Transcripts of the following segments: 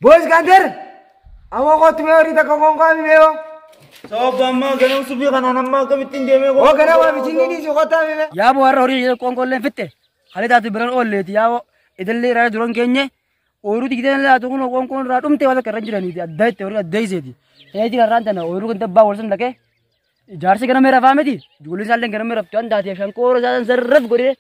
Boys Gander! Amma kootu mee horii takka konkaa mi beewa? Sababa ammaa ganam subii kanaan ammaa akkamittiin deemee Oo gara waa bisinni dhiisi kootaa mi bee? Yaaboo har'a horii ishee qoonqoolleen fitte. Halee taatu biraan oolleeti yaaboo idillee irraa duran keenye ooyiruu digdeen laatu kun qoonqoon irraa dhumte waan akka irra jiraniiti adda itti horii adda iseeti. Ta'ee jira irraan tana ooyiruu kan dabbaa wal sun dhaqee ijaarsi ganamee rafaa miti ijoollee isaallee ganamee raftu waan taateef shankoora isaan sarraf godhee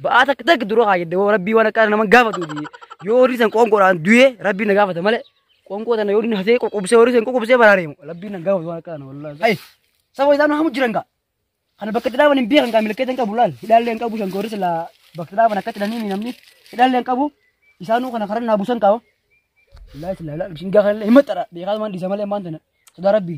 Ba'aa takka takka dura haa jedhe woo rabbii waan akkaan naman gaafatu di. Yoo horii san qoonqoodhaan du'ee rabbii na gaafata malee qoonqoo tana yoo inni hasee qoqqobsee horii san qoqqobsee baraareemu rabbii na gaafatu waan akkaan wallaahi. Ayi saba isaan hamu jiran gaa. Kana bakka itti dhaaban hin beekan gaa milkeessa hin qabu laal hidhaallee hin qabu shankoorri silaa bakka itti dhaaban akkatti dhanii namni hidhaallee hin qabu isaanuu kana karan naa busan qabu. Wallaahi silaa laal bishingaa kanallee hin maxxara beekaa maan dhiisa malee maan tana. Dhugaa rabbi.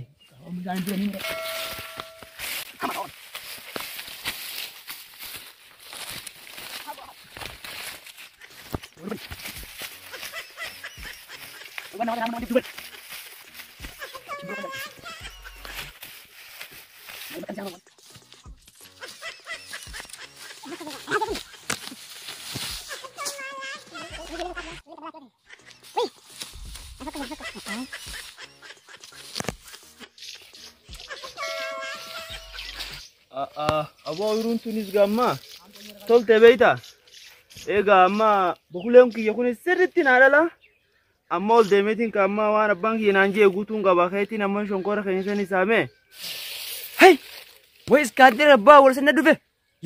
Aboo oyiruun tunis gammaa tolte beeyta. Egaa amma bokuleen kiyya kunis sirriitti naa dhala. Amma ol deemeetiin ka amma waan abbaan kiyya naan jee guutuun qaba keetiin amma shonkoora keenya sanii saamee. Hey! Way iskaandira abbaa wal sanna dhufe.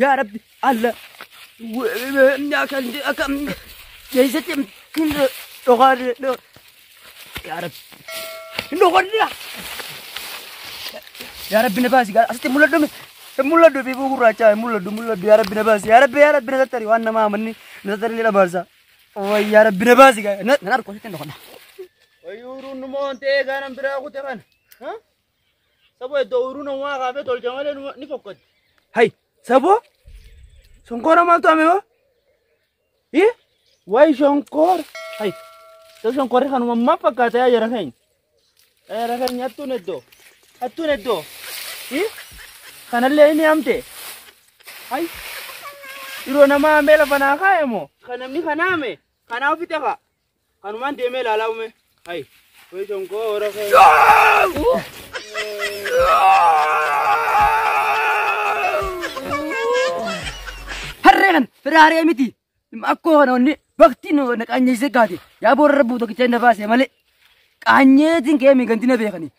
Yaa Rabbi alla akkam keessatti hin dhokaarre yaa Rabbi hin dhokaarre yaa Rabbi na baasi asitti mul'adhu mi hin mul'adhu biifuu gurraachaa hin mul'adhu mul'adhu yaa Rabbi na baasi yaa Rabbi yaa Rabbi na tattari waan namaa amanni na tattari ni dhabaarsa wayi yaa Rabbi na baasi na narko asitti hin dhokadha. Wayuuruun nu moontee gaanan biraa kute kana. Saboo iddoo ooyiruu namaa kaafee tolcha malee numa- ni fokkatti. Hay, saboo? Shonkoora maaltu hame hoo? Hi? Wayi shonkoora. Hay, iddoo shonkoorri kanuma maaf fakkaata yaa jara keenya? Yaa jara keenya hattuun iddoo. Hattuun iddoo. Hi? Kanallee inni hamte. Hay, yeroo namaa hambee lafa naa kaa'e moo? Kan namni kan haame kanaa ofitti hafa. Kanumaan deemee ilaalaa uumee. Hayi. Wayii shonkoo hora kee. Harree kan firaaree miti. Akkoo kana onni bakti nu na qaanyeessee kaate. Yaa boorra buuta kichaa na baase malee. Qaanyeetiin kee miiganti na beekani.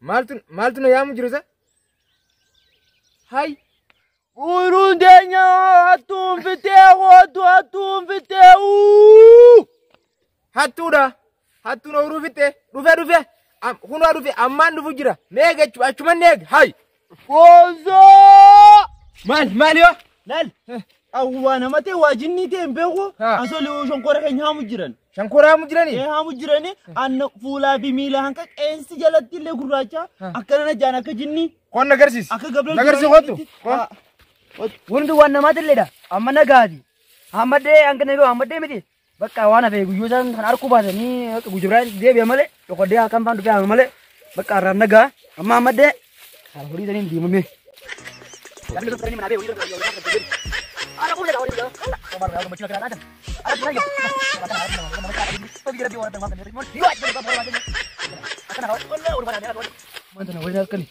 Maaltu maaltu na yaamu jiru sa? Hay. Uuruun teenya hattuun fittee kootu hattuun fittee uu. Hattuudha. Hattuun ooyiruu fittee dhufe dhufe. Am- Kunoo dhufe ammaan dhufu jira. Meeqa achuman eeg hay. Foozoo! Maal maal yoo? Laal awwaa namatee waa jinnii ta'e hin beeku Haa. asoo li'uu shonkoora keenya haamu jiran. Shankoraa mu jirani? Ee haamu jirani anna fuulaa fi miila hanqa qeensi jalatti illee gurraacha Haa. akkana na jaan akka jinnii Qoon na garsiis. akka gabreel Na garsiis kottu. Qoon. Hundi waan namaati illee dha. Amma nagaati. Hammadhee hanga na yoo hammadhee miti. Bakka waan hafe guyyoo isaan kan arkuu baatanii bakka gujibraan deebi'a malee dhokodee halkan faan dhufee haama malee bakka arraan nagaa amma ammaddee kan horii saniin diimamee. Wanta na waliin halkani.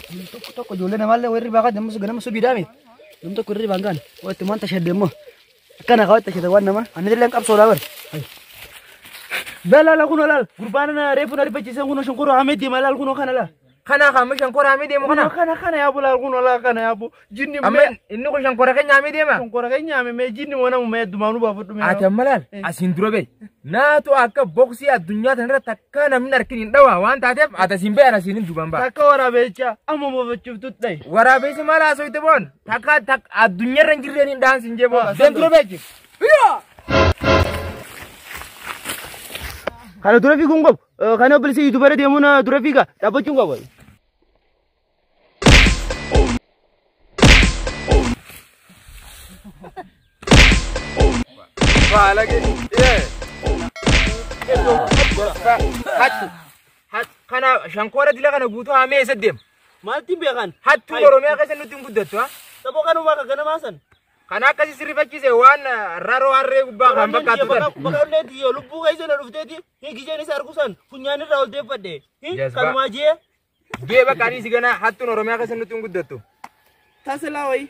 Namni tokko tokko ijoollee namaallee warri baaqaa dammas ganama subii daame. Namni tokko irri baangaan. Watti wanta shadde immoo. Akkana kawatti ashita waan nama. Ani illee qabsoo laa bari. Laal laal kun laal gurbaan na reefu na rifachiisan kun shonkoroo hamee deema laal kun kana laal. Kana amma shankora hamee deemu Kana kana. kana kana yaabu laal kun laal kana yaabu. Jinni Amma mee inni kun shankora keenya hamee deema. shonkoroo keenya hamee mee jinni wana mee dumaanu baafadhu mee. Ati amma laal Eh. asiin dura bee. Naatu akka boksii addunyaa tanarratti akka namni harkin hin dhawaa waan taateef ati asiin bee ani asiin hin duban ba'a. Takka waraabeecha amma moofachuuf tuttai. Waraabessi maal haasofte boon? Takka takka addunyaarra hin jirreen hin dhahan siin jee booda. Seen dura beekti. Kana dura fiiguun qabu. Kana obboleessi yuutuubara deemuun dura fiiga dhaabbachuun qabu. Kana shankoora dila kana guutuu haamee eessa deema? Maaltiin beekan? Hattuun Oromiyaa keessa nutti hin guddattu ha. Xaboo kanumaa kan ganamaa san. Kan akkasii sirrifachiise waan raroo harree gubbaa kan fakkaatu tan. Bakkallee diyo lubbuu keessa na dhufteeti. Hin gijeen isa argu san funyaan irraa ol deeffadhe. Hin Yes, ba- kanumaa jee. Gee bakka ani si ganaa hattuun Oromiyaa keessa nutti hin guddattu. Tasilaa wayii.